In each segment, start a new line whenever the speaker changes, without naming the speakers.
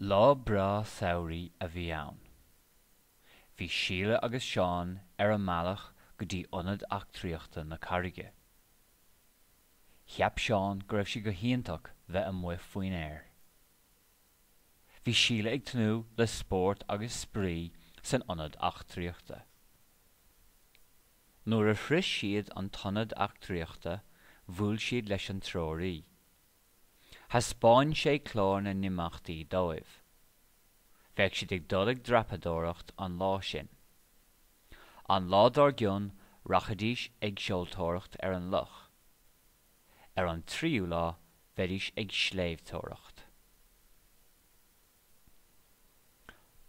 Lá breá samhraidh a bhí ann. Bhí Síle agus Seán ar a mbealach go dtí ionad eachtraíochta na Carraige. Cheap Seán go raibh sé go hiontach bheith amuigh faoin aer. Bhí Síle ag tnúth le spórt agus spraoi san ionad eachtraíochta. Nuair a shrois siad an t-ionad eachtraíochta bhuail siad leis an treoraí. Thaispeáin sé clár na n-imeachtaí dóibh. Bheadh siad ag dul ag dreapadóireacht an lá sin. An lá dár gcionn rachaidís ag seoltóireacht ar an loch. Ar an tríú lá bheidís ag sléibhteoireacht.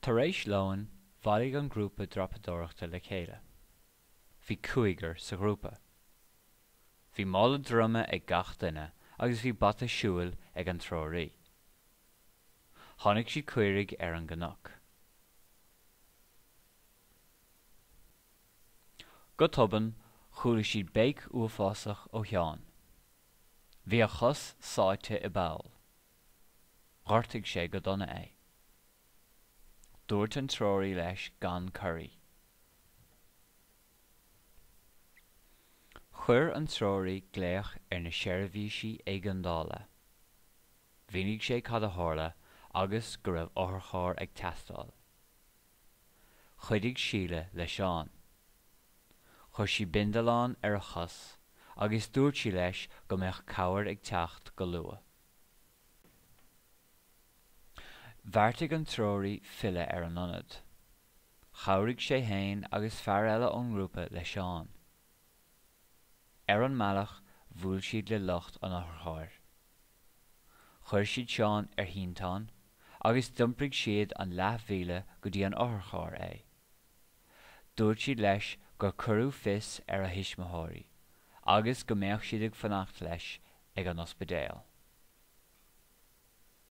Tar éis lóin bhailigh an grúpa dreapadóireachta le chéile. Bhí cúigear sa ghrúpa. Bhí mála droma ag gach duine agus bhí bata siúil ag an treoraí. Chonaic siad caoirigh ar an gcnoc. Go tobann chuala siad béic uafásach ó Sheán. Bhí a chos sáite i bpoll. Ghortaigh sé go dona é. Dúirt an treoraí leis gan corraí. Chuir an treoraí glaoch ar na seirbhísí éigeandála. Mhínigh sé cad a tharla agus go raibh otharcharr ag teastáil. Chuidigh Síle le Seán. Chuir sí bindealán ar a chos agus dúirt sí leis go mbeadh cabhair ag teacht go luath. Bheartaigh an treoraí filleadh ar an ionad. Chabhraigh sé fhéin agus fear eile ón ngrúpa le Seán. Ar an mbealach bhuail siad le lucht an otharchairr. Chuir siad Seán ar shínteán agus d'iompraigh siad an leathmhíle go dtí an otharcharr é. Dúirt siad leis gur cuireadh fios ar a thuismitheoirí agus go mbeadh siad ag fanacht leis ag an ospidéal.